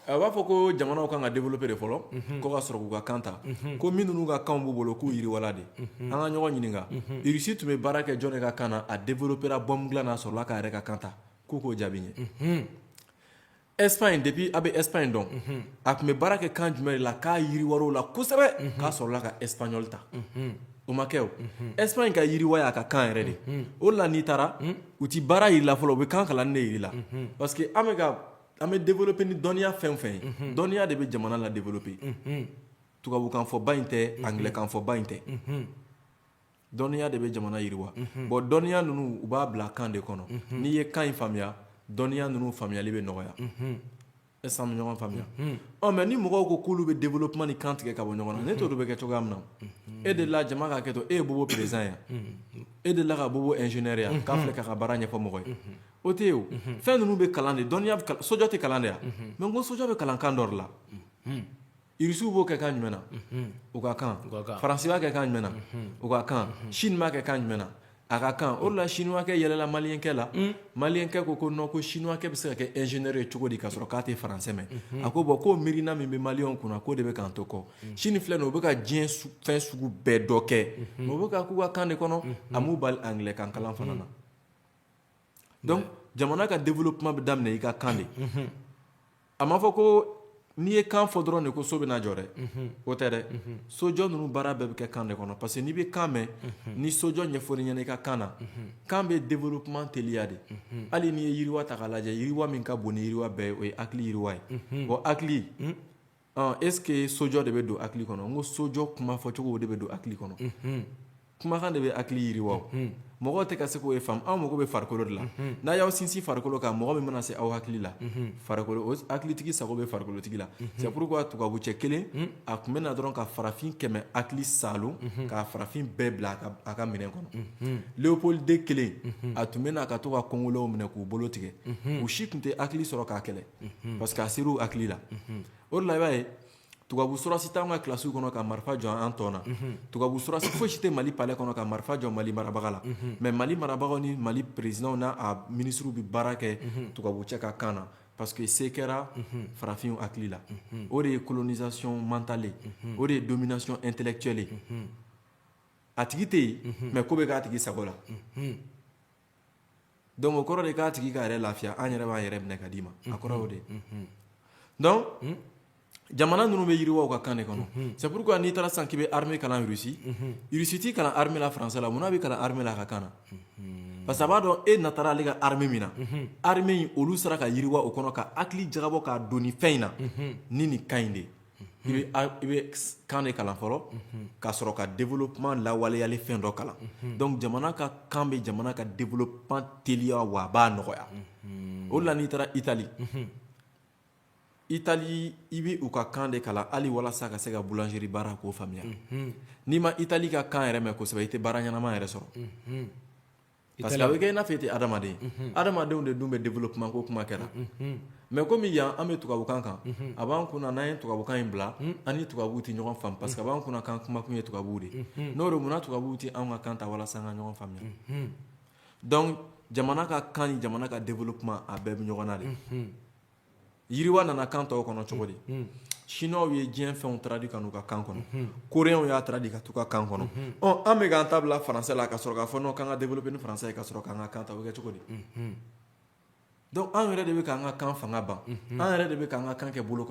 A b'a fɔ ko jamana ka kan ka developper de fɔlɔ ka sɔrɔ k'u ka kan ta ko minnu ka kan b'u bolo k'u yiriwa de an ka ɲɔgɔn ɲininka Sini tun bɛ baara kɛ jɔn ka kan na a developper o de la ka sɔrɔ k'a yɛrɛ ka kan ta k'u k'o jaabi ye Espagne depuis a bɛ Espagne dɔn a tun bɛ baara kɛ kan jumɛn la k'a yiriwa la kosɛbɛ k'a sɔrɔ la ka espanoli ta o ma kɛ o Espagne ka yiriwa y'a ka kan yɛrɛ de o la n'i taara u tɛ baara y'i la fɔlɔ u bɛ kan kalan i la parce que an bɛ an bɛ developper ni dɔnniya fɛn o fɛn ye, unhun, dɔnniya de bɛ jamana la developper unhun, tubabukanfɔba in tɛ, unhun, anglɛkanfɔba in tɛ, unhun, dɔnniya de bɛ jamana yiriwa, unhun, bon dɔnniya ninnu u b'a bila kan de kɔnɔ, unhun, n'i ye kan in faamuya dɔnniya ninnu faamuyali bɛ nɔgɔya, unhun, est ce que an bɛ ɲɔgɔn faamuya, unhun, ɔ mais ni mɔgɔw ko k'olu bɛ developpement ni kan tigɛ ka bɔ ɲɔgɔn na ne t'o dɔn o bɛ kɛ cogoya min na, unhun, e delila jama ka hakɛ to e ye bobo president ye wa, unhun, e delila ka bobo ingénieur ye wa k'a filɛ k'a ka baara ɲɛfɔ mɔgɔ ye, unhun O tɛ yen o fɛn ninnu bɛ kalan de dɔnniya sojɔ tɛ kalan de ye mais ko sojɔ bɛ kalan kan dɔ la irisiw b'o kɛ kan jumɛn na u ka kan faransi y'a kɛ kan jumɛn na u ka kan sini b'a kɛ kan jumɛn na a ka kan o la siniwakɛ yɛlɛla maliyɛnkɛ la maliyɛnkɛ ko ko non ko siniwakɛ bɛ se ka kɛ ingénieur ye cogo di ka sɔrɔ k'a tɛ faransɛ mɛn a ko bon ko miirina in min bɛ mali kunna k'o de bɛ k'an to kɔ sini filɛ don u bɛ ka diɲɛ fɛn sugu bɛɛ dɔ kɛ mais u b'a k'u ka kan de kɔnɔ a m'u bali anglɛkan kalan fana na dɔnku jamana ka developpement bɛ daminɛ i ka kan de a ma fɔ ko n'i ye kan fɔ dɔrɔn de ko so bɛna jɔ dɛ o tɛ dɛ sojɔ ninnu baara bɛɛ bɛ kɛ kan de kɔnɔ parce que n'i bɛ kan mɛn ni sojɔ ɲɛfɔra i ɲɛna i ka kan na kan bɛ developpement teliya de hali n'i ye yiriwa ta k'a lajɛ yiriwa min ka bon ni yiriwa bɛɛ ye o ye hakili yiriwa ye o hakili ɔ est ce que sojɔ de bɛ don hakili kɔnɔ n ko sojɔ kuma fɔcogo de bɛ don hakili kɔnɔ unhun kumakan de bɛ hakili yiriwa o unhun mɔgɔw tɛ ka se k'o de faamu aw mako bɛ farikolo de la unhun n'a y'aw sinsin farikolo kan mɔgɔ min mana se aw hakili la unhun farikolo o hakilitigi sago bɛ farikolotigi la c'est pourquoi tubabucɛ kelen a tun bɛ na dɔrɔn ka farafin kɛmɛ hakili salon ka farafin bɛɛ bila a ka- a ka minɛn kɔnɔ unhun leopold deux kelen a tun bɛ na ka to ka kongolɛw minɛ k'u bolo tigɛ u si tun tɛ hakili sɔrɔ k'a kɛlɛ parce que a sera u hakili la o de la i b'a ye tubabu sɔrɔdasi t'anw ka kilasiw kɔnɔ ka marifa jɔ an tɔn na tubabu sɔrɔdasi fosi tɛ mali palɛ kɔnɔ ka marifa jɔ mali marabaga la mais mali marabagaw ni mali peresidanw n'a minisiriw bɛ baara kɛ tubabucɛ ka kan na parce que se kɛra farafinw hakili la o de ye colonisation mentale ye o de ye domination intellectuelle ye a tigi tɛ yen mais ko bɛ k'a tigi sago la dɔnku o kɔrɔ de k'a tigi k'a yɛrɛ lafiya an yɛrɛ b'an yɛrɛ minɛ ka d'i ma a kɔrɔ de dɔnku jamana ninnu bɛ yiriwa u ka kan de kɔnɔ c'est pourquoi n'i taara san k'i bɛ armée kalan Russie Russie t'i kalan armée la français la munna a b'i kalan armée la a ka kan na parce que a b'a dɔn e na taara ale ka armée min na armée olu sera ka yiriwa o kɔnɔ ka hakili jagabɔ k'a don ni fɛn in na ni ni ka ɲi de i bɛ a- i bɛ s- kan de kalan fɔlɔ ka sɔrɔ ka développement lawaleyali fɛn dɔ kalan donc jamana ka kan bɛ jamana ka développement teliya wa a b'a nɔgɔya o de la n'i taara Italie Italie i bɛ u ka kan de kalan hali walasa ka se ka boulangerie baara k'o faamuya n'i ma Italie ka kan yɛrɛ mɛn kosɛbɛ i tɛ baara ɲɛnama yɛrɛ sɔrɔ parce que a bɛ kɛ i n'a fɔ i tɛ adamaden adamadenw de dun bɛ développement ko kuma kɛra mɛ kɔmi yan an bɛ tubabukan kan a b'an kun na n'an ye tubabukan in bila an ni tubabu tɛ ɲɔgɔn faamu parce que a b'an kun na k'an kumakun ye tubabu de n'o tɛ munna tubabu tɛ an ka kan ta walasa an ka ɲɔgɔn faamuya donc jamana ka kan ani jamana ka développement a bɛɛ bɛ ɲɔgɔn na de yiriwa nana kan tɔw kɔnɔ cogo di sinuwaw ye diɲɛ fɛnw traduit ka na u ka kan kɔnɔ Coréenw y'a traduit ka taa u ka kan kɔnɔ an bɛ ka an ta bila faransɛ la ka sɔrɔ k'a fɔ k'an ka développer ni faransɛ ye ka sɔrɔ k'an ka kan to o bɛ kɛ cogo di dɔnku anw yɛrɛ de bɛ k'an ka kan fanga ban an yɛrɛ de bɛ k'an ka kan kɛ bolo kɔnɔ